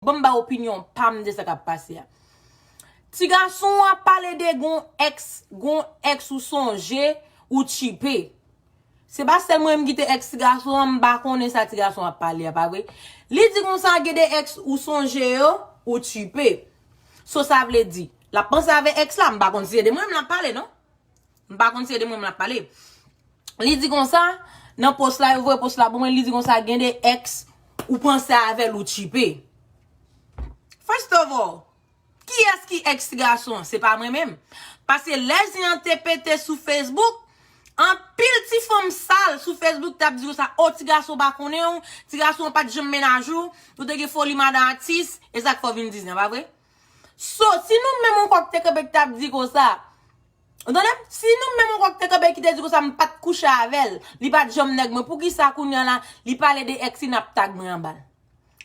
Bon m ba opinyon pam de sa kap pase a. Ti gason w ap pale de gon ex, gon ex ou sonje ou tchipe. Se pa sèl mwen menm ki te ex ti gason an m pa konnen sa ti gason ap pale a pa vre. Li di konsa gen de ex ou sonje yo ou tchipe. So sa vle di, l ap panse avè ex la, m pa konn si se de mwen menm l ap pale non. M pa konn si se de mwen m l ap pale. Li di konsa, nan pos la, yo voye pos la pou mwen, li di konsa gen de ex ou panse avè l ou tchipe. First of all, kiyès ki ex ti gason an? Se pa mwen menm. Pase lè zen an te pete sou Facebook, anpil ti fanm sal sou Facebook t ap di konsa, o ti gason pa konnen w, ti gason an pa t janm menaj ou, ou te gen foli madan atis, e sa k fè w vin di zen, pa vre? So, si nou menm on kòk te kanpe k t ap di konsa, Ou tande? Si nou menm ankò ki te kanpe ki te di konsa m pa t kouche avè l, li pa t janm nèg mwen, poukisa kounye an la li pale de èks li n ap tag mwen anba l?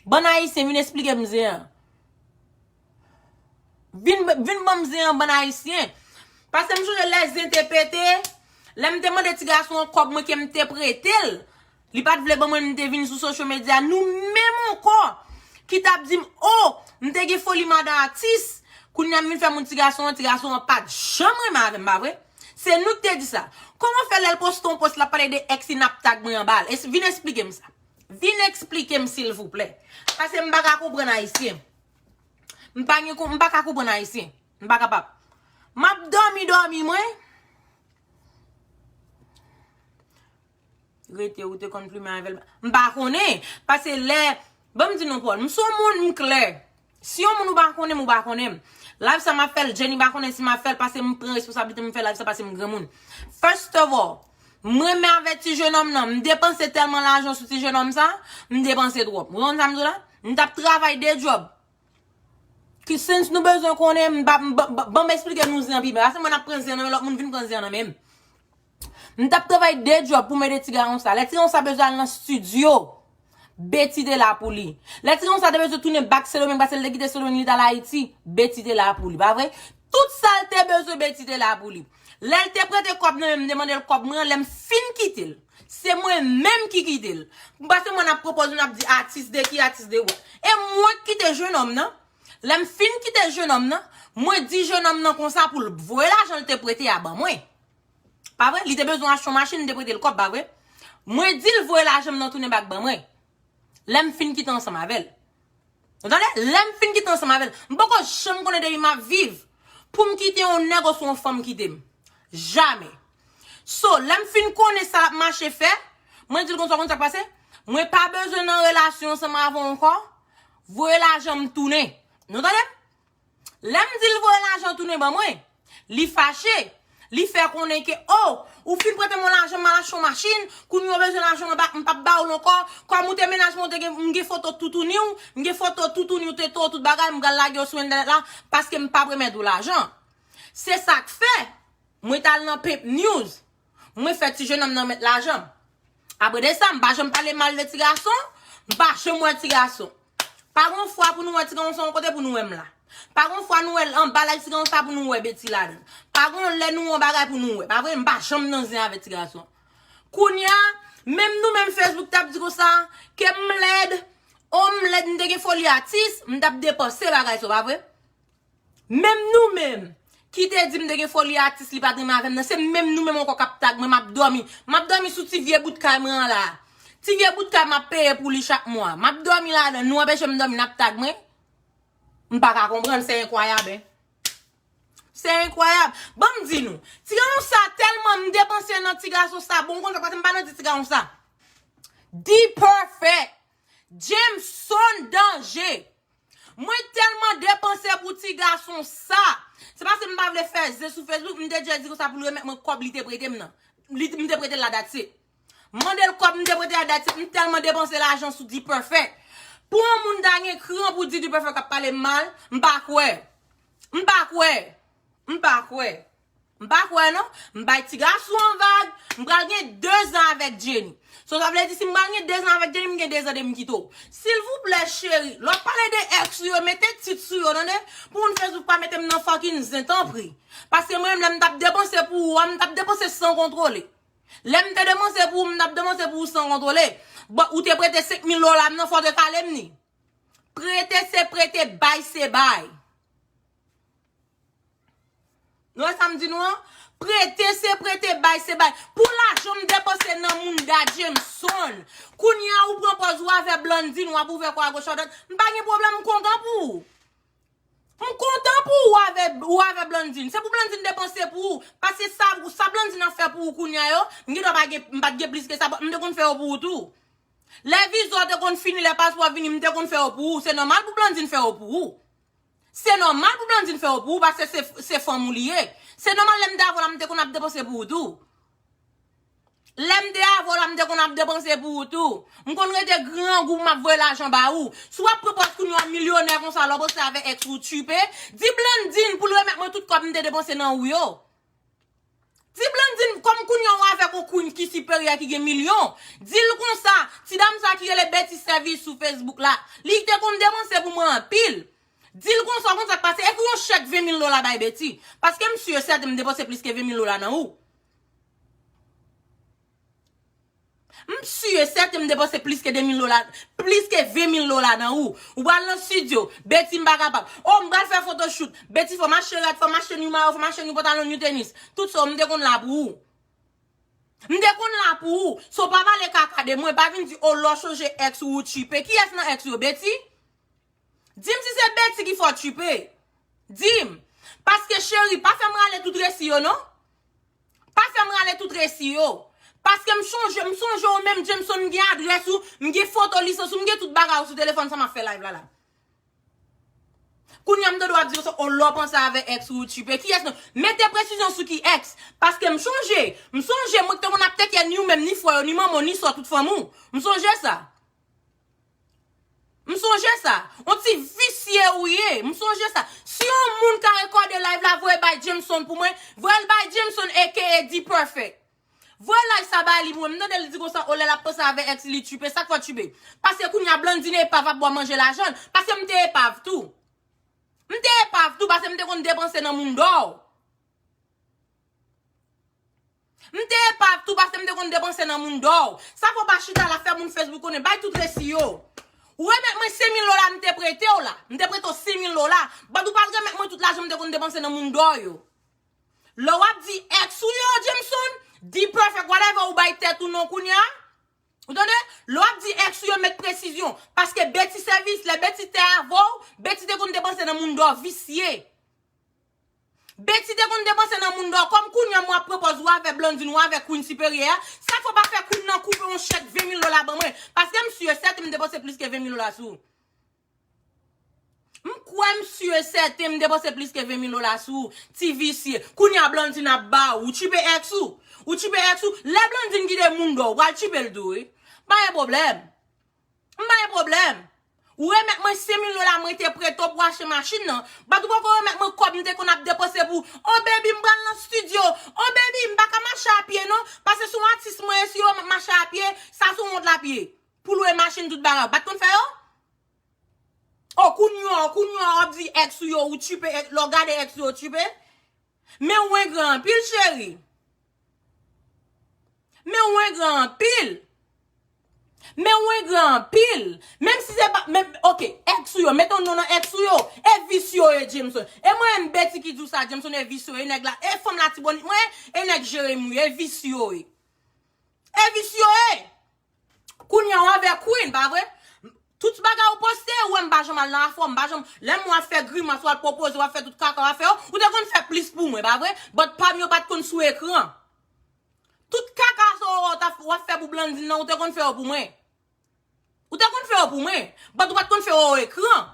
Bann Ayisyen vin esplike m zen an. Vin ban m zen an bann Ayisyen. Pase m sonje lè zen te pete, lè m te mande ti gason an kòb mwen ke m te prete l. Li pat vle ban mwen m te vin sou social media nou menm ankò ki tap dim oh m te gen foli madan atis kounya m vin fè moun ti gason an ti gason an pat janm renmen avèm pa vre se nou ki te di sa kòman fè lèl poste yon post lap pale de ex li nap tag mwen anba l vin esplike m sa vin esplike m silvouplè pase m paka konprann ayisyen m pa gen m paka konprann ayisyen m pa kapab map dòmi dòmi mwen. Rete ou te konn plumen avèl. M pa konnen. Pase lè. Banm di nou Paul. M son moun m klè. Si yon moun ou pa konnen m ou pa konnen m. Live sa map fèl Jenny pa konnen si map fèl pase m pran responsablite m fè live sa pase m granmoun. First of all. M renmen avè ti jenòm nan. M depanse tèlman lajan sou ti jenòm sa. M depanse twòp. Ou konprann sa m di w la? M tap travay 2 job. Ki since nou bezwen konnen m pa banm esplike nou zen an pi byen. Pase mwen ap pran zen nan men lòt moun vin pran zen an nan menm. M tap travay 2 djòb pou m ede ti garon sa. Lè ti garon sa bezwen al nan stidyo, Beti te la pou li. Lè ti garon sa te bezwen tounen bak Sendomeng pase l te kite Sendomeng li t al Ayiti, Beti te la pou li. Pa vre? Tout sa l te bezwen Beti te la pou li. Lè l te prete kòb nan men m, m te mande l kòb mwen an, lè m fin kite l. Se mwen menm ki kite l. Pase mwen ap pwopoze nou ap di atis de ki, atis de ou. E mwen k kite jenòm nan. Lè m fin kite jenòm nan, mwen di jenòm nan konsa pou l voye lajan l te prete a ban mwen. Pa vre? Li te bezwen achte yon machin, m te prete l kòb, pa vre? Mwen di l voye lajan m nan tounen bak ban mwen. Lè m fin kite ansanm avè l. Ou tande? Lè m fin kite ansanm avè l. M poko janm konnen de pi m ap viv pou m kite yon nèg oswa yon fanm kite m. Jamè. So, lè m fin konnen sa l ap mache fè, mwen di l konsa, ou konn sa k pase? Mwen pa bezwen nan relasyon ansanm avè w ankò. Voye lajan m tounen. Nou tande m? Lè m di l voye lajan tounen ban mwen, li fache. Li fè konnen ke, o, ou fin prete mwen lajan m al achte yon machin, kounye a ou bezwen lajan mwen m pap ba ou l ankò, kòm ou te menaj mwen, m gen foto toutouni w, m gen foto toutouni w, tete w, tout bagay, m pral lage yo sou entènèt la, paske m pap remèt ou lajan. Se sa k fè, mwen t al nan Pepnews, Mwen fè ti jenòm nan met lajan. Apre de sa, m pa janm pale mal de ti gason, m pa janm wè ti gason. Pa gon fwa pou nou wè ti gason yon kote pou nou wè m la. Pa gon fwa nou wè l anba laj ti gason sa pou nou wè Betty la dan. Pa gon lè nou yon bagay pou nou wè. Pa vre? M pa janm nan zen avè ti gason. Kounye a, menm nou menm Facebook t ap di konsa, ke m lèd, o m lèd m te gen foli atis, m t ap depanse bagay sa w pa vre? Menm nou menm Ki te di m te gen foli atis li pat renmen avè m nan se menm nou menm ankò kap tag mwen map dòmi map dòmi sou ti vye bout kay mwen an la ti vye bout kay map peye pou li chak mwa map dòmi ladann nou anpeche m dòmi nap tag mwen m paka konprann se enkwayab hein se enkwayab ban m di nou ti gason sa tèlman m depanse nan ti gason sa bon m konn sa paske m pa nan di ti gason sa D-perfect. Jameson danje. Mwen telman depanse pou ti gason sa. Se paske m pa vle fè ze sou Facebook, m te djèl di konsa pou l remèt mwen kòb li te prete m nan. Li m te prete l la that's it. M mande l kòb m te prete a that's it. M telman depanse lajan sou D-Perfect. Pou yon moun ta gen kran pou di D-Perfect ap pale m mal, m pa kwè. M pa kwè. M pa kwè. M pa kwè non. M bay ti gason an vag. M pral gen 2 zan avèk Jenny. So sa vle di si m pral gen 2 zan avèk Jenny m gen 2 zan depi m kite w. Silvouplè cheri, lè w ap pale de ex ou yo mete tit sou yo tande. Pou moun Facebook pa mete m nan fucking zen tanpri. Paske mwen menm lè m tap depanse pou ou a m tap depanse san kontwole. Lè m te depanse pou ou m tap depanse pou ou san kontwole. Bon ou te prete 5 mil dola m nan fò w te kale m ni. Prete se prete bay se bay. Nou wè sa m di nou an? Prete se prete, bay se bay. Pou lajan m depanse nan moun Da Jameson. Kounye a ou pran pòz ou avè Blandine, wap ouvè kò agoch adwat. M pa gen pwoblèm, m kontan pou ou. M kontan pou ou avè ou avè Blandine. Se pou Blandine depanse pou ou. Paske sa sa Blandine ap fè pou ou kounye a yo, m gen dwa pa gen, m pa t gen plis ke sa, m te konn fè yo pou ou tou. Lè viza w te konn fini, lè paspò a vini, m te konn fè yo pou ou. Se nòmal pou Blandine fè yo pou ou. Se nòmal pou Blandine fè yo pou ou paske se fanm ou li ye. Se nòmal lè m te avè w la m te konn ap depanse pou ou tou. Lè m te avè w la m te konn ap depanse pou ou tou. M konn rete grangou m ap voye lajan ba ou. Si w ap pran pòz kounye w milyonè konsa lè w ap sòti avè èks ou tchiipe, di Blandine pou l remèt mwen tout kòb m te depanse nan ou yo. Ti Blandine kòm kounye ou avèk on Queen ki siperyè ki gen milyon, di l konsa, ti dam sa ki rele Betty Service sou Facebook la, li te konn depanse pou mwen anpil. Di l konsa, ou konn sa k pase, ekri on chèk 20 mil dola bay Betty, paske m si e sèten m depanse plis ke 20 mil dola nan ou. M sur et certain m depanse plis ke 2000 dola, plis ke 20000 dola nan ou. Ou pral nan studio, Betty m pa kapab. Oh m pral fè photoshoot, Betty fò m achte rad, fò m achte new mayo, fò m achte new pantalon, new tenis. Tout sa w m te konn la pou ou. M te konn la pou ou. So pa pale kaka de mwen, pa vin di oh lè w chanje ex ou ou tchipe. Kiyès nan ex ou yo, Betty? Di m si se Betty ki fè w tchipe. Di m. Paske cheri, pa fè m rale tout resi yo non. Pa fèm rale tout resi yo. Paske m chonje, m sonje w menm Jameson m gen adrès ou, m gen foto lisans ou, m gen tout bagay ou sou telefòn sa map fè live la la. Kounya m te dwe ap diw sa oh lè w panse avè ex ou ou tchipe kiyès nan mete presizyon sou ki ex paske m chonje m sonje mwen k te konn ap tekè ni ou menm ni frè yo ni manman w ni sò tout fanmi w m sonje sa. M sonje sa. On ti visye ou ye. M sonje sa. Si yon moun ka rekòde live la voye bay Jameson pou mwen. Voye l bay Jameson aka D-Perfect. Voye live sa ba li pou mwen. M tande l di konsa oh lè l ap panse avè ex li li tchiipe. Sa k fè w tchiipe? Paske kounya Blandine epav ap bwa manje lajan l. Paske m te epav tou. M te epav tou paske m te konn depanse nan moun dò. M te epav tou paske m te konn depanse nan moun dor. Sa fè w pa chita la fè moun Facebook konnen bay tout resi yo. Ou remèt mwen 5000 dola m te prete w la. M te prete w 5000 dola. But ou pa remèt mwen tout lajan m te konn depanse nan moun dor yo. Lè w ap di ex ou yo Jameson, D-Perfect whatever ou bay tèt ou non kounya. Ou tande? Lè w ap di ex ou yo met presizyon. Paske Betty sèvis, lè Betty te avè w, Betty te konn depanse nan moun dor visye. Betty te konn depanse nan moun Dorcom kounya mwen ap pran pòz wa avè Blandine wa avè Queen siperyè a sa fè w pa fè Queen nan kou fè yon chèk 20 mil dola ban mwen paske m si e sèten m depanse plis ke 20 mil dola sou m kwè m si e sèten m depanse plis ke 20 mil dola sou ou ti visye kounya Blandine ap ba ou tchipe ex ou ou tchipe ex ou lè Blandine kite moun dò ou pral tchipe l tou wi pa gen pwoblèm M pa gen pwoblèm. Ou remèt mwen 100 mil dola mwen te prete w pou achte machin nan, bat ou poko remèt mwen kòb m te konn ap depanse pou Oh baby m pral nan studio, Oh baby m pa ka mache a pye non, pase son atis mwen ye si yo wè m ap mache a pye, sa son wont l ap ye. Pou lwe machin tout bagay ou pat konn fè yo? Oh kounya w, kounya w ap di ex ou yo ou tchipe, lè w gade ex ou yo ou tchipe? Men ou engran anpil cheri. Men ou engra anpil. Men ou engra anpil. Menm si se pa, menm, ok, ex ou yo, mete yon non nan ex ou yo. E vis yo ye Jameson. E mwen menm Betty ki di w sa Jameson e vis yo ye nèg la, e fanm latibonit mwen, e nèg Jeremi yo ye, e vis yo ye. E vis yo ye. Kounya w avè Queen pa vre? Tout bagay ou poste ou wè m pa janm al nan afè w, m pa janm lè m wè w ap fè grimas, w al pwopoze, w ap fè tout kaka w ap fè yo, ou te konn fè plis pou mwen pa vre? But pa m yo pat konn sou ekran. Tout kaka sa w wè w ap fè pou Blandine nan ou te konn fè yo pou mwen. Ou te konn fè yo pou mwen, but ou pat konn fè yo o ekran.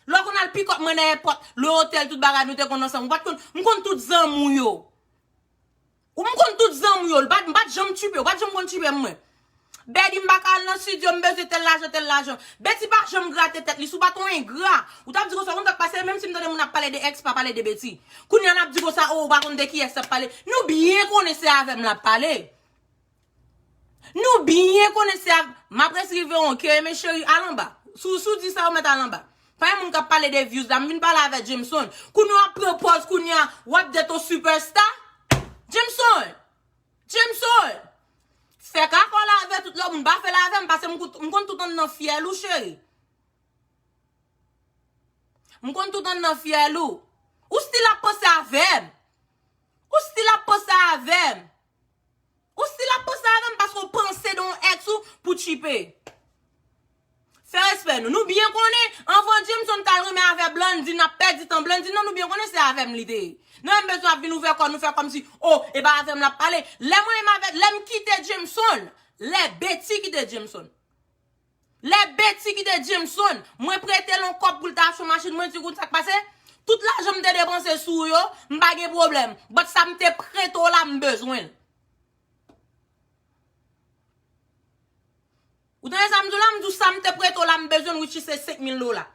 Lè w konn al pick up mwen nan èpòt, le otèl tout bagay nou te konn ansanm ou pat konn, m konn tout zanmi w yo. Ou m konn tout zanmi w yo, m pat janm tupe, ou pat janm konn tupe m mwen. Betty m pa ka al nan studio, m bezwen tèl lajan, tèl lajan. Betty pa janm grate tèt li, si w pat yon engra, ou tap di konsa, ou konn sak pase, menm si m tande moun ap pale de ex, pa pale de Betty. Kounya lap di konsa, oh ou pa konn de ki ex lap pale, nou byen konnen se avè m lap pale. Nou byen konnen se ak Map res rive on ke men cheri al anba Sou sou di sa ou met al anba Pa gen moun kap pale de views la m vin pale avè Jameson Kounye wap pran pòz kounye a wap det on super star Jameson Jameson Fè kaka w la avè tout lòt moun pa fèl avèm pase m kout m konn tout anndan fyèl ou cheri M konn tout anndan fyèl ou Ou stil ap panse avèm Ou stil ap panse avèm. Ou stil ap panse avèm paske ou panse de yon ex ou pou tchipe. Fè respè nou. Nou byen konnen anvan Jameson tal renmen avè Blandy nap pèdi tan Blandy nan nou byen konnen se avèm li te ye. Nou menm bezwen ap vin ouvè kò nou fè kòmsi oh e pa avèm lap pale. Lè mwen menm avè lèm kite Jameson lè Betty kite Jameson. Lè Betty kite Jameson, mwen prete l on kòb pou l ta achte machin, mwen di w konn sa k pase? Tout lajan m te depanse sou ou yo, m pa gen pwoblèm, but sa m te prete w la m bezwen l. Ou tande sa m di w la? M di w sa m te prete w la m bezwen l which is se 5000 dola.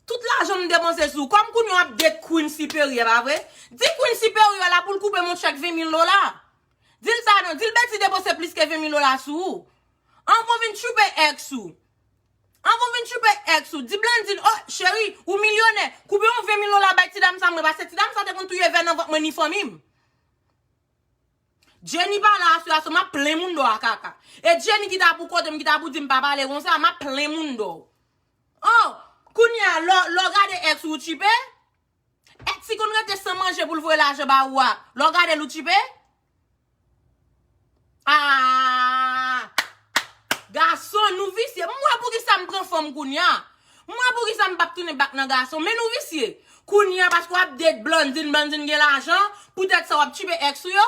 Tout lajan m depanse sou ou, kòm kounye w ap date Queen Siperyè, pa vre? Di Queen Siperyè la pou l koupe m on chèk 20000 dola. Di l sa non, di l Betty depanse plis ke 20000 dola sou ou. An kon vin tchoupe ex ou. An kon vin tchoupe ex ou. Di Blandine oh cheri ou milyonè koube yon 20 mil dola bay ti dam sa mwen pase ti dam sa te konn touye vè nan vant mwen ni fanmim. Jenny pale a sè a so map plen moun do a kaka. E Jenny ki ta pou kotem ki ta pou dim pa pale konsa map plen moun do ou. Oh kounya lè w gade ex ou ou tchipe? Etsy konn rete san manje poul voye lajan ba ou a lè w gadel ou tchipe? Aahh gason nou visye m wè poukisa m pran fanm kounya m wè poukisa m pap tounen bak nan gason men nou visye kounya paske wap date Blandine Blandine gen lajan poutèt sa wap tchipe ex ou yo?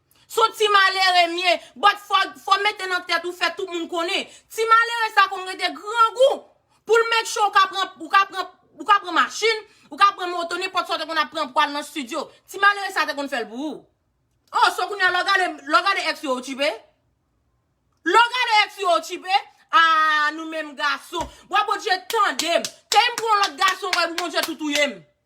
Son ti malere mye, but fò mete nan tèt ou fè tout moun konnen, ti malere sa konn rete grangou poul make sure ou ka pran ou ka pran ou ka pran machin, ou ka pran moto nenpòt sa ou te konn ap pran pou al nan studio, ti malere sa te konn fèl pou ou. Oh so kounya lè w gade lè w gade ex yo ou tchipe? Lè w gade ex yo ou tchipe? Aah nou menm gason. Bwa Bondye tandem. Teyim pran yon lòt gason anko epi Bondye tou touyem.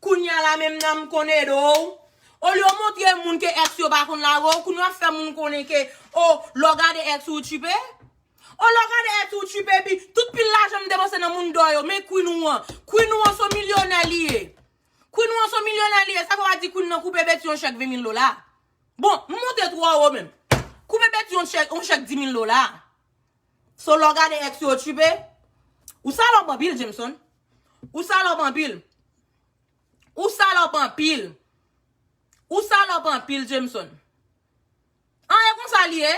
Kounya la menm nan kon edo w. Olye w montre moun ke ex yo pa konn lage w, kounya w ap fè moun konnen ke o lè w gade ex ou ou tchipe? O lè w gade ex ou ou tchipe epi tout pil lajan m depanse nan mundo yo men queen ou an. Queen ou an son milyonè li ye. Queen ou an son milyonè li ye sa fè w a di queen nan koupe Betty yon chèk 20 mil dola. Bon, m monte twò wo menm. Koupe Betty yon chèk 10 mil dola. So lè w gade ex yo ou tchipe? Ou salòp anpil Jameson. Ou salòp anpil. Ou salòp anpil. Ou salòp anpil Jameson. An e konsa li ye?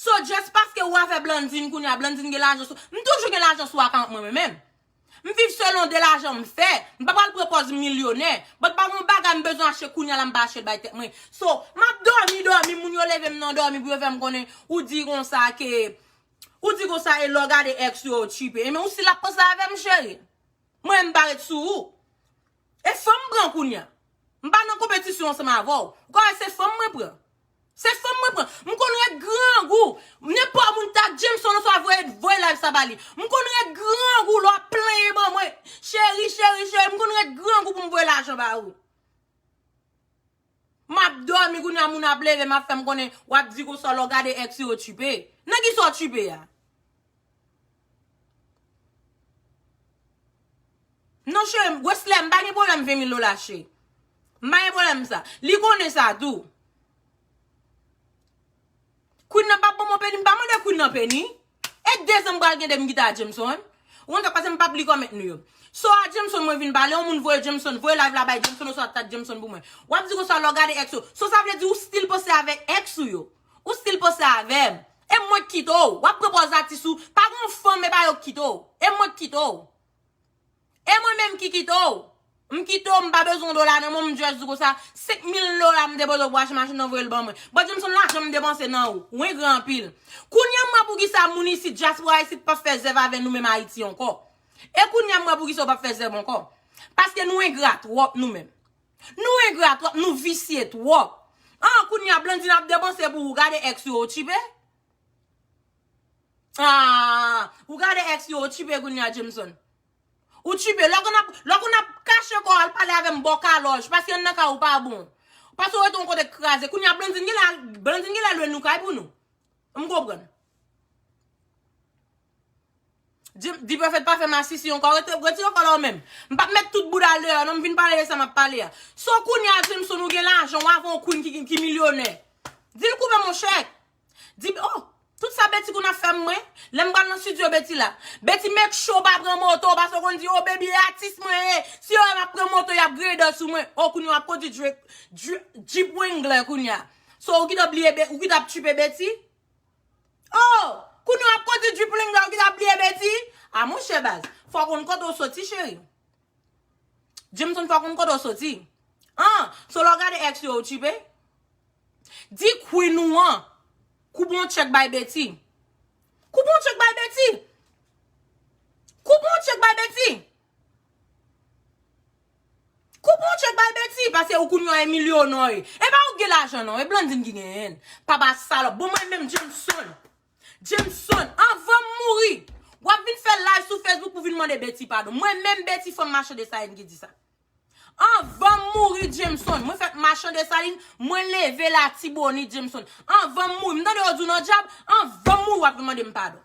So just paske ou avè Blandine kounya Blandine gen lajan sou M toujou gen lajan sou akant mwen mwen menm. M viv selon de lajan m fè, m pa pral pran pòz m milyonè, but pa gon bagay m bezwen achte kounya la m pa achte l bay tèt mwen. So, m ap dòmi dòmi moun yo leve m nan dòmi pou yo fè m konnen ou di konsa ke ou di konsa e lè w gade ex yo ou tchipe. Enben ou si l ap panse avè m cheri. Mwen m pa ret sou ou. E fanm pran kounya. M pa nan konpetisyon ansanm avè w. Ou ka wè se fanm mwen pran. Se fanm mwen pran. M konn ret grangou. Nenpò moun ta Jameson oswa voye voye live sa ba li. M konn ret grangou lè w ap plenyen ban mwen. Cheri, cheri, cheri, m konn ret grangou pou m voye lajan ba ou. Map domi kounya moun ap leve map fem konnen wap di konsa lè w gade ex ou yo tchipe. Nan kisa w tchipe a? Non chere, Wesley mpa gen pwoblem 20 mil dola chere. Mpa gen pwoblem sa. Li konnen sa tou. Queen nan pap banm yon peni, mpa mande queen nan peni. E dezem pral gen de m gita a Jameson. Ou konn sa k pase m pap li comment nou yo. So a Jameson mwen vin pale yon moun voye Jameson voye live la bay Jameson oswa tag Jameson pou mwen. Wap di konsa lè w gade ex ou. So sa vle di ou still poste avek ex ou yo. Ou still poste avem. E mwen k kite w. Wap pran pòz atis ou. Pa gon fanm e pa yo k kite w. E mwen k kite w. E mwen menm ki kite w? M kite w m pa bezwen dola nan menw m just di w konsa 5 mil dola m depoze pou achte machin nan voye l ban mwen. Bon di m son lajan m depanse nan ou. Ou engra anpil. Kounya m wè poukisa moun isit dyaspora isit pap fè zèv avè nou menm Ayiti ankò. E kounya m wè poukisa ou pap fè zèv ankò. Paske nou engra twòp nou menm. Nou engra twòp nou visye twòp. An kounya Blandine ap depanse pou ou gade ex ou yo tchipe. Aah ou gade ex li ou tchipe kounya Jameson. Ou tchipe lè konn ap lè konn ap kache kòw al pale avèm bò kalòj paske anndan kay ou pa bon. Paske ou rete yon kote k kraze kounya Blandine genlè al Blandine genlè lwe nou kay pou nou. M konprann. Dprofet pa fè masisi ankò retire kòl la ou menm m pap met tout bouda l deyò non m vin pale de sa map pale a so w kounye a Jemson ou gen lajan w avè yon Queen ki milyonè di l koupe monchè di oh tout sa Betty konn ap fè m mwen lè m pral nan studio Betty la Betty make sure w pa pran moto paske w konn di oh baby e atis mwen ye si yo wè m ap pran moto y ap grader sou mwen oh kounye a w ap kondwi Jeep Wrangler kounye a so ou kite bliye ou kite ap tchipe Betty. Oh! Kounye w ap kondi Djiplinga ou ki ta bliye Betty? A monchè baz, fò w konn kote w soti cheri. Jameson fò w konn kote w soti. An! So lè w gade ex yo ou tchipe? Di Queen ou an koupe yon tchèk bay Betty. Koupe yon tchèk bay Betty! Koupe yon tchèk bay Betty! Koup yon tchek bay Betty pase ou kounye an Emilio non e pa ou ki gen lajan non e Blandine ki genyenl papa salòp bon mwen menm Jameson Jameson anvanm mouri wap vin fè live sou Facebook pou vin mande Betty padon mwen menm Betty fanm machan Dessalines ki di sa anvanm mouri Jameson mwen fèt machan Dessalines mwen leve latibonit Jameson anvanm mouri mtande yo di w nan djab anvanm mouri wap vin mandem padon.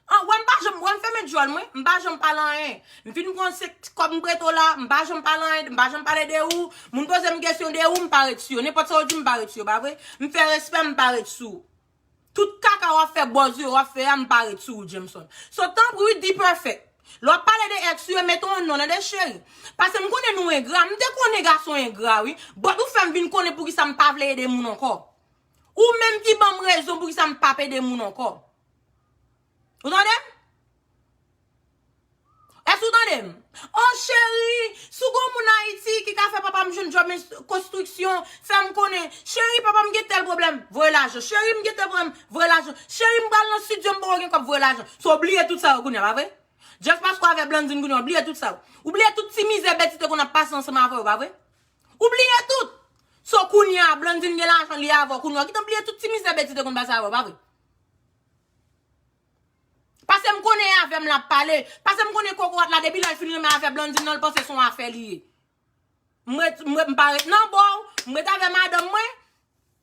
An wè m pa janm wè m fèmen dyòl mwen, m pa janm pale anyen. M fin konn se kòb m prete w la, m pa janm pale anyen, m pa janm pale de ou. Moun poze m kesyon de ou, m pa ret sou yo. Nenpòt sa yo di m, m pa ret sou yo, pa vre? M fè respè, m pa ret sou ou. Tout kaka w ap fè, bòz yo w ap fè a, m pa ret sou ou, Jameson. So, tanpri wi, D-Perfect, lè w ap pale de èks ou yo, mete yon non nan de, cheri. Pase m konnen nou engra, m te konnen gason engra wi, but ou fè m vin konnen poukisa m pa vle ede moun ankò. Ou menm ki banm rezon pou kisa m pap ede moun ankò. Ou tande m? Èske ou tande m? Oh cheri, si w gon moun Ayiti ki ka fè papa m jwenn djòb konstriksyon, fè m konnen. Cheri, papa m gen tèl pwoblèm, voye lajan. Cheri, m gen tèl pwoblèm, voye lajan. Cheri, m pral nan stidyo, m poko gen kòb, voye lajan. So w bliye tout sa yo kounye a, pa vre? Just paske w avè Blandine kounye a, w bliye tout sa yo. Ou bliye tout ti mizè Betty te konn ap pase ansanm avè w, pa vre? Ou bliye tout! So kounya Blandine gen lajan li avèw kounya ou gentan bliye tout ti mizè Betty te konn pase avèw pa vre? Pasem konnen e avèm lap pale, pasem konnen kokorat la depi lèl fin renmen avè Blandine nan li panse son afè li ye. M ret m pa ret nan bòw, m ret avè madanm mwen.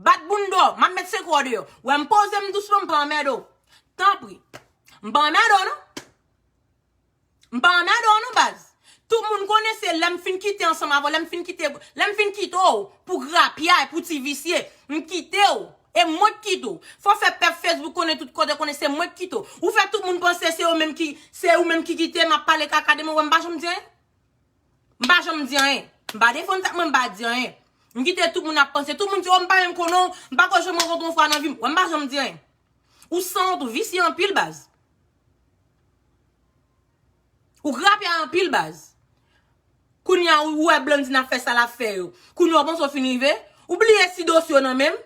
Bat bounda w, m ap met sekre w deyò. Wè m poze m dousman, m pa anmède w. Tanpri. M pa anmède w non. M pa anmède w non baz. Tout moun konnen se lè m fin kite ansanm avè w, lè m fin kite, lè m fin kite w pou grapyay, pou ti visye, m kite w. E mwen k kite w. Fò fè pèp Facebook konnen, tout kote konnen se mwen k kite w. Ou fè tout moun panse se yo menm ki, se ou menm ki kite m ap pale kaka de mwen, wè m pa janm di anyen. M pa janm di anyen. M pa defann sa, mwen m pa di anyen. M kite tout moun ap panse. Tout moun di, oh m pa menm konnen w, m pa kwè janm rankontre w yon fwa nan vi m. Wè, m pa janm di anyen. Ou sanwont, ou visye anpil baz. Ou grapya anpil baz. Kounye a ou wè Blandine ap fè sa l ap fè yo. Kounye a ou panse w fin rive. Ou bliye si dosye yo nan men m.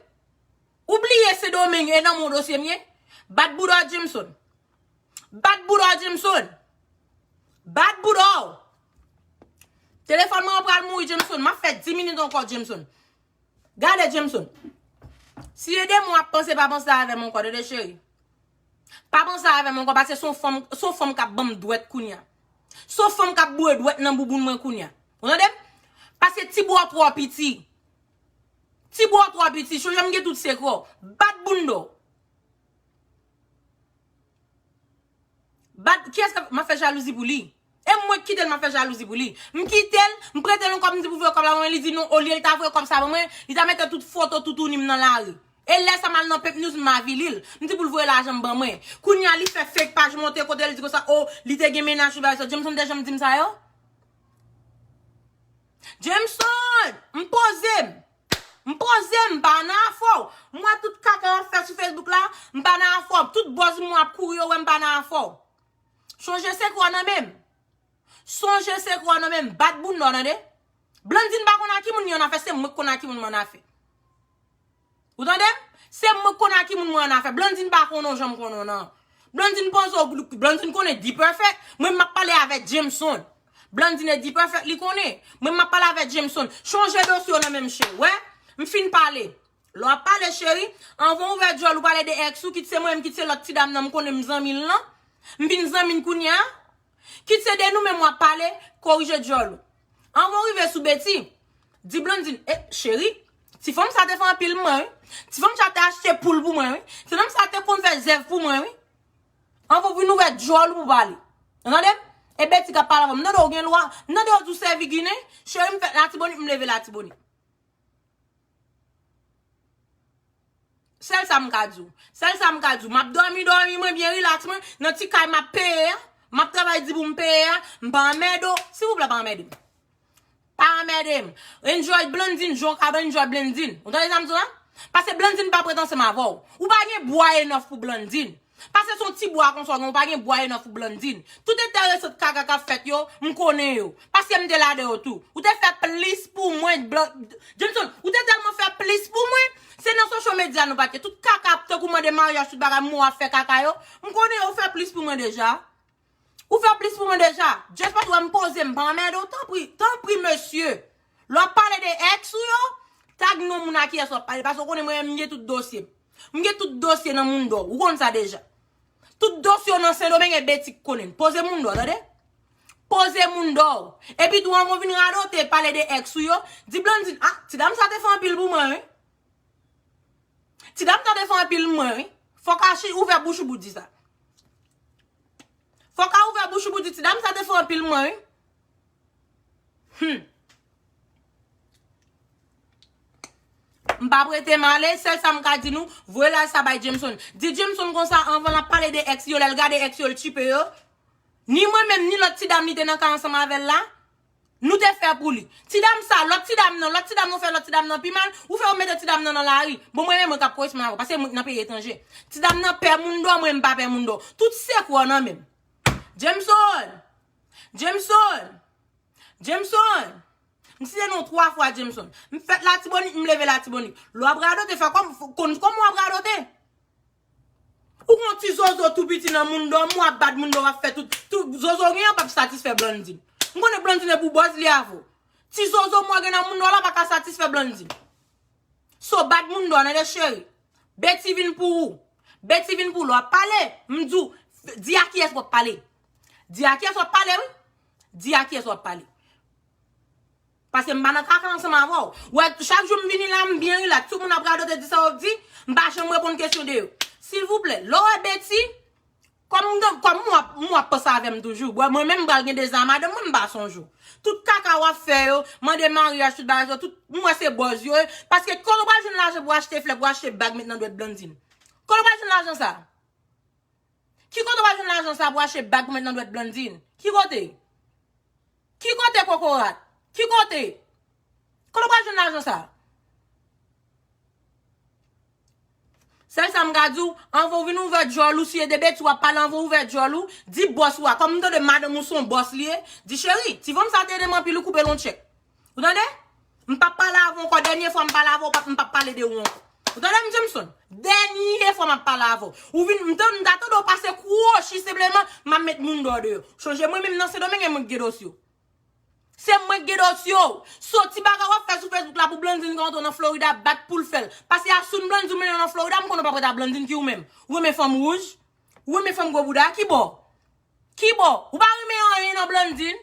Ou bliye Sendomeng e nan men w dosye m ye. Bat bouda w Jameson. Bat boudaw Jameson. Bat boudaw. Telefon mwen pral mouri Jameson. Map fè 10 minit ankò Jameson. Gade Jameson. Si e de mwen ap panse pa panse avè mwen ankò tande cheri. Pa panse avè mwen ankò pase son fanm son fanm kap banm dwèt kounya. Son fanm kap boure dwèt nan bouboun mwen kounya. Ou tandem? Pase ti boudaw twò piti. Ti boudaw twò piti. Chonje mgen tout sekrèw. Bat boundaw. Bad kiyès kap map fè jalouzi pou li e mwen k kitel map fè jalouzi pou li m kitel m pretel yon kòb m di pou voye kòb la ban mwen li di non olye l ta voye kòb sa ban mwen li ta mete tout foto toutouni m nan lari e lè sa mal nan pepnews m avili l m di pou l voye lajan m ban mwen kounye a li fè fake paj monte kotel di konsa oh li te gen mennaj li bagay sa Jameson te janm di m sa yo Jameson m poze m. M poze m pa nan afè w. M wè tout kaka w ap fè sou Facebook la, m pa nan afè w. Tout buzz moun ap kouri yo wè m pa nan afè w. Sonje sekrè w nan men m. Sonje sekrè w nan men m. Bat bounda w tande. Blandine pa konn a ki moun li an afè, se mwen k konn a ki moun m an afè. Ou tande m? Se mwen k konn a ki moun mwen an afè. Blandine pa konnen w jan m konnen w nan. Blandine poze w, Blandine konnen D-Perfect. Mwen m ap pale avè Jameson. Blandine Dperfect li konnen. Mwen map pale avè Jameson. Chanje dosye w nan menm che. Wè? M fin pale. Lè w ap pale cheri, anvan w ouvè dyòl ou pale de ex ou, kit se mwen menm kit se lòt ti dam nan m konnen m zanmi l lan. M vin zanmi n kounye a. Kit se de nou menm w ap pale, korije dyòl ou. Anvan w rive sou Betty, di Blandine, eh cheri, ti fanm sa te fè anpil m mwen wi. Ti fanm sa te achte poul pou mwen wi. Ti fanm sa te konn fè zèv pou mwen wi. An pou vin ouvè dyòl ou pou pale. Ou tande m? E Betty kap pale avè w. M tande w gen lwa. M tande w di w sèvi Ginen. Cheri m fèt Latibonit, m leve Latibonit. Sèl sa m ka di w. Sèl sa m ka di w. M ap dòmi dòmi mwen byen rilaks mwen nan ti kay m ap peye a. M ap travay di pou m peye a. M pa anmède w. Silvouplè pa anmède m. Pa anmède m. Enjoy Blandine jan w kapab enjoy Blandine. Ou tande sa m di w la? Pase Blandine pa pou ret ansanm avè w. Ou pa gen bwa enough pou Blandine. Pase se yon ti bwa konsa w gen, ou pa gen bwa enough pou Blandine. Tout enteresant kaka k ap fèt yo, m konnen yo. Paske m te ladan yo tou. Ou te fè plis pou mwen Blan, Johnson, ou te tèlman fè plis pou mwen, se nan social media nou pa t ye. Tout kaka, tankou mande maryaj tout bagay, mou ap fè kaka yo, m konnen yo, ou fè plis pou mwen deja. Ou fè plis pou mwen deja. Just paske ou wè m poze m pa anmède w tanpri, tanpri mesye lè w ap pale de ex ou yo tag non moun a kiyès w ap pale paske ou konnen mwen menm m gen tout dosye m. M gen tout dosye nan moun dò ou konn sa deja. Tout dosye w nan sendomeng e Betty k konnen l. Poze moun dò tande. Poze moun dò w. Epi tou anvan w vin radote pale de ex ou yo, di Blandine ah ti dam sa te fè anpil pou mwen wi. Ti dam tande son anpil mwen wi. Fok Archi ouvè bouch ou pou di sa. Fok a ouvè bouch ou pou di ti dam sa te son anpil mwen wi. Humm. M pa prete m ale, sèl sa m ka di nou, voye laj sa bay Jameson. Di Jameson konsa anvan l ap pale de ex yo lè l gade ex yo l tchipe yo. Ni mwen menm ni lòt ti dam li te nan ka ansanm avè l la. Nou te fè pou li. Ti dam sa, lòt ti dam nan, lòt ti dam nan ou fè lòt ti dam nan pi mal, ou fè yo mete ti dam nan nan lari. Bon mwen menm mwen kap koresponn avèw paske mwen nan peyi etranje. Ti dam nan pè moun dò mwen mpa pè moun dò. Tout sekrè w nan menm. Jameson! Jameson! Jameson! M site non w 3 fwa Jameson. M fèt latibonit m leve latibonit. Lè wap radote fè kòm, konn kòman wap radote. Ou gon ti zozo tou piti nan moun dòmi wap bat moun dòmi wap fè tout, tout zozo ou gen an pap satisfè Blandine. M konnen Blandine e pou bòz li avèw. Ti zozo mwen gen nan moun dòmi la paka satisfè Blandine. So bat moun dòmi tande cheri. Betty vin pou ou. Betty vin pou ou lè wap pale m di w di a kiyès wap pale. Di a kiyès wap pale wi. Di a kiyès wap pale. Paske m pa nan kaka ansanm avè w. Ou wè, chak jou m vini la, m byen rilaks. Tout moun ap radote, di sa yo di, m pa janm reponn kesyon de yo. Silvouplè, lè w wè Betty, kòm m gen, kòm m wè, m wè w ap panse avè m toujou. Bon, mwen menm m pral gen dezi a madanm mwen, m pa sonje w. Tout kaka w ap fè yo, mande maryaj, tout bagay sa yo, tout, m wè se bòz yo ye. Paske kote w pral jwenn lajan pou w achte flè, pou w achte bag met nan dwèt Blandine? Kote w pral jwenn lajan sa a? Ki kote wal jwenn lajan sa pou achte bag pou met nan dwèt Blandine? Ki kote? Ki kote kokorat? Ki kote? Kote ou pral jwenn lajan sa? Sèl sa m ka di w, anvan ou vin ouvè djòl ou, si e de betiz wap pale anvan ou ouvè djòl ou, di bòs ou a, kòm m tande madanm ou son bòs li ye, di cheri, ti vonm sa te ede m anpil ou koupe l on tchèk. Ou tande? M pap pale avè w ankò. Dènye fwa m pale avè w, m pap pale de ou ankò. Ou tande m Jameson? Dènye fwa m ap pale avè w. Ou vin, m ta tande w pase kwochi senpleman, m ap met moun dòdè yo. Chonje mwen menm nan Sendomeng e mwen k gen dosye w. Se mwen k gen dosye w. So ti bagay w ap fè sou Facebook la pou Blandine ka antre w nan Florida ap bat pou l fè l. Pase asoun Blandine mennen w nan Florida m konnen w pa prèt a Blandine ki ou menm. Ou renmen fanm wouj? Ou renmen fanm gwo bouda? Ki bò? Ki bò? Ou pa renmen anyen nan Blandine?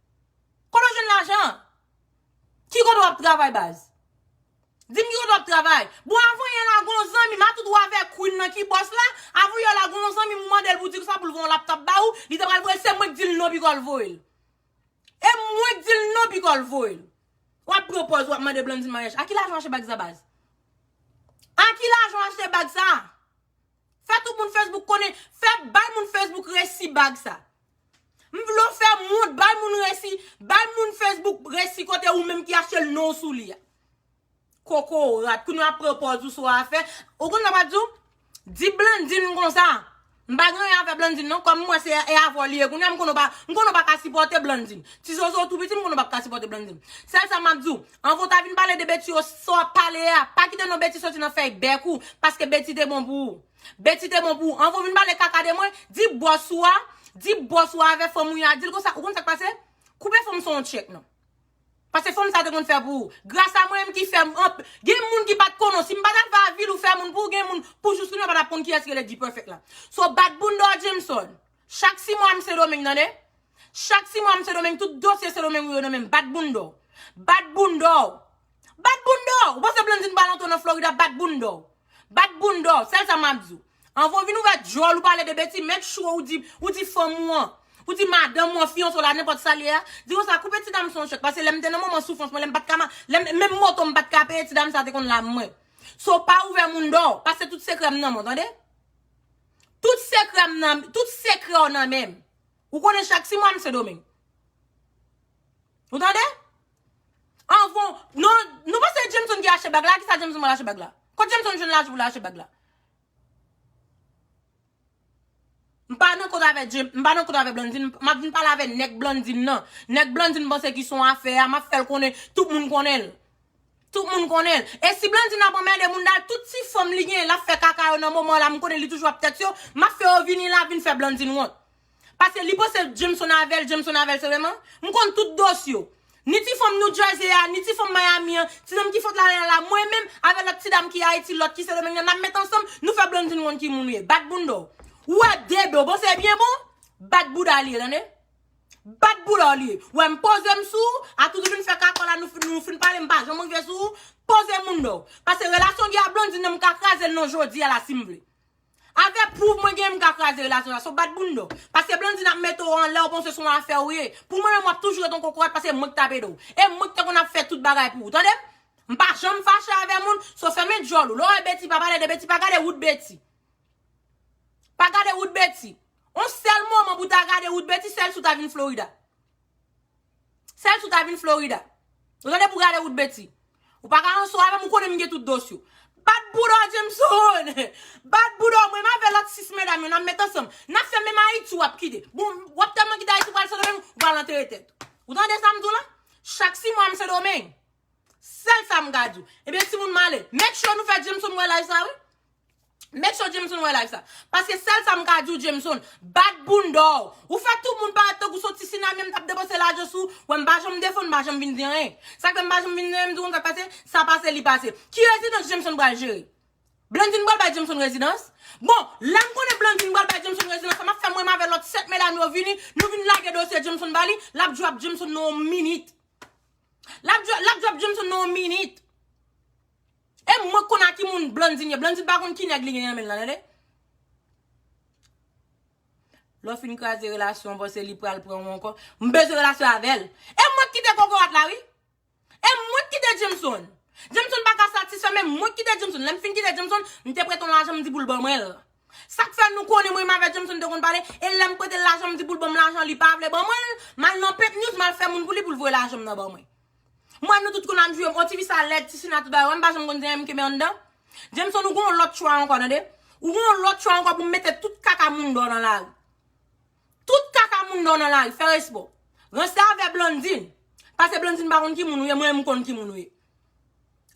Kote w jwenn lajan an? Ki kote w ap travay baz? Di m ki kote w ap travay? Bon avan yè la gen yon zanmi m atout ou avè Queen nan ki bòs la, avan yè la gen yon zanmi m ou mande l pou di l sa pou l gen yon laptòp ba ou, li te pral voye l se mwen k di l non pi kò l voye l. E mwen k di l non pi kò l voye l. W ap pran pòz w ap mande Blandine maryaj. A ki lajan w achte bag sa baz? A ki lajan w achte bag sa? Fè tout moun Facebook konnen, fè bay moun Facebook resi bag sa. M vle w fè m wont, bay moun resi, bay moun Facebook resi kote ou menm ki achte l non w sou li a. Kokorat, kounya w ap pran pòz ou sou afè. Ou konn sa m ap di w? Di Blandine konsa. M pa gen anyen avè Blandine non, kòm m wè se e avè w li ye kounya m konnen w pa, m konnen w pa ka sipòte Blandine. Ti zozo w tou piti m konnen w pap ka sipòte Blandine. Sèl sa m ap di w, anvan w ta vin pale de Betty yo, sa w ap pale a, pa kite non Betty soti nan fèy bèk ou, paske Betty te bon pou ou. Betty te bon pou ou. Anvan w vin pale kaka de mwen, di bòs ou a, di bòs ou a avè fanm ou ya di l konsa, ou konn sa k pase? Koupe fanm sa yon tchèk non. Pase fanm sa te konn fè pou ou. Gras a mwen menm ki fè anp, gen moun ki pat konnen w. Si m pa ta fè avil ou fè moun pou ou gen moun pou jous kounye w pa ta konn kiyès rele D-Perfect la. So bat bounda w Jameson. Chak si mwa m sendomeng tande. Chak si mwa m sendomeng tout dosye sendomeng ou yo nan menm bat bounda w. Bat bounda w. Bat bounda w. Ou panse blandine pral antre w nan florida bat bounda w. Bat bounda w. Sèl sa map di w. Anvan w vin ouvè dyòl ou pale de betiz make sure ou di ou di fanm ou an ou di madanm ou an fiyanse w la nenpòt sa l ye a di konsa koupe ti dam sa yon chèk pase lè m te nan moman soufrans mwen lè m pat ka ma lè m menm moto m pat ka peye ti dam sa te konn la m mwen so pa ouvè mounda w pase tout sekrè m nan men w tande. Tout sekrè m nan, tout sekrè w nan menm. Ou konnen chak ti mwa m sendomeng. Ou tande? Anvan, non, nou panse e Jameson ki achte bag la, a kisa Jameson pral achte bag la? Kot Jameson jwenn lajan pou l achte bag la? M pa nan kont avè Jame, m pa nan kont avè Blandine, m ap vin pale avè nèg Blandine nan. Nèg Blandine panse ki son afè a, m ap fè l konnen, tout moun konnen l. Tout moun konnen l. E si Blandine ap anmède Mounda l, tout ti fanm li genyen l ap fè kaka yo nan moman w la, m konnen li toujou ap tèt yo, m ap fè yo vini la vin fè Blandine wont. Pase li panse Jameson avè l, Jameson avè l senpleman. M konn tout dose yo. Ni ti fanm New Jersey a, ni ti fanm Miami an, ti nonm ki fot la lè la, mwen menm, avè lòt ti dam ki Ayiti, lòt ki Sendomeng nan, n ap met ansanm, nou fè Blandine wont ki moun ou ye. Bat bounda w. Ou wè Dedo, bon se byen bon? Bat bouda li ye, tande. Bat boul an li. Wè m poze m sou ou, atout ou vin fè kakò la nou fin nou fin pale m pa janm rive sou ou, poze moun non. Pase relasyon Guy a Blandine nan m ka kraze l non jodi a la si m vle. Avè pwouv mwen genyen m ka kraze relasyon sa so bat boul non. Pase Blandine ap mete w anlè ou panse son afè ou ye. Pou mwen menm wap toujou ret yon kokorat pase mwen ki tap ede w. E mwen ki te konn ap fè tout bagay pou ou tande m. M pa janm fache avè moun, so fèmen dyòl ou. Lè w wè Betty pa pale de Betty pa gade wout Betty. Pa gade wout Betty. On sèl moman pou ta gade wout Betty sèl si w ta vin Florida. Sèl si w ta vin Florida. Ou tande pou gade wout Betty. Ou pa ka anso avè m ou konnen m gen tout dos yo. Bat bouda w Jameson! Bat bouda w mwen m avè lòt 6 medam yo n ap met ansanm. N ap fè menm Ayiti w ap kite. Bon w ap tèlman kite Ayiti w pral Sendomeng ou pral antere tèt ou. Ou tande sa m di w la? Chak 6 mwa m Sendomeng. Sèl sa m ka di w. Ebyen timoun m ale. Make sure nou fè Jameson wè laj sa wi. Make sure Jameson wè live sa. Paske sèl sa m ka di w Jameson, bat bounda w. Ou fè tout moun parèt tankou son ti sinamye m t ap depanse lajan sou ou. Wè m pa janm defann, m pa janm vin di anyen. Sa k fè m pa janm vin di anyen, m di w konn sa k pase? Sa pase li pase. Ki rezidans Jameson pral jere? Blandine pral bay Jameson rezidans? Bon, lè m konnen Blandine pral bay Jameson rezidans sa, m ap fè mwen menm avè lòt 7 medam yo vini, nou vin lage dosye Jameson ba li, l ap drop Jameson nan yon minit. L ap drop Jameson nan yon minit. E mwen konn a ki moun Blandine ye. Blandine pa konn ki nèg li gen nan men l lan tande. Lè w fin kraze relasyon w panse li pral pran w ankò. M bezwen relasyon avè l. E mwen k kite kokorat la wi. E mwen k kite Jameson. Jameson pa ka satisfè men mwen k kite Jameson. Lè m fin kite Jameson, m te prete yon lajan m di pou l ban mwen l. Sa k fè nou konnen mwen menm avè Jameson te konn pale e lè m prete l lajan m di pou l ban m lajan li pa vle ban mwen l, m al nan Pink News m al fè moun pou li pou l voye lajan m nan ban mwen. M wè nou tout konn ap jwe m. Oh tifi sa lèd, ti sina tout bagay. Ou wè m pa janm konn zen m kenbe anndan? Jameson ou gen yon lòt chwa ankò tande. Ou gen yon lòt chwa ankò pou m mete tout kaka moun dò nan lari. Tout kaka moun dò nan lari, fè respè w. Ranstavè Blandine, pase Blandine pa konn ki moun ou ye, mwen menm m konn ki moun ou ye.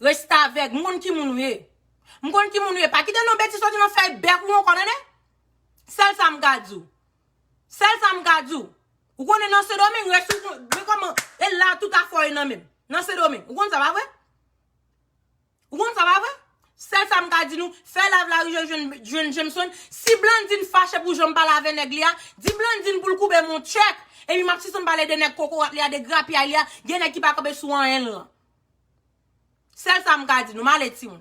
Restavèg, m konn ki moun ou ye. M konn ki moun ou ye. Pa kite non betiz soti nan fèy bèk ou ankò tande. Sèl sa m ka di w. Sèl sa m ka di w. Ou konnen nan sendomeng rès ou kon men koman e la tout afè w ye nan menm nan sendomeng ou konn sa pa vre ou konn sa pa vre sèl sa m ka di nou fè lav larivyè jwenn jwenn jemson si blandine fache pou jan m pale avè nèg li a di blandine pou l koube m on tchèk epi m ap sispann pale de nèg kokorat li a de grapyay li a gen nèg ki pa kanpe sou anyen l lan sèl sa m ka di nou m ale timoun.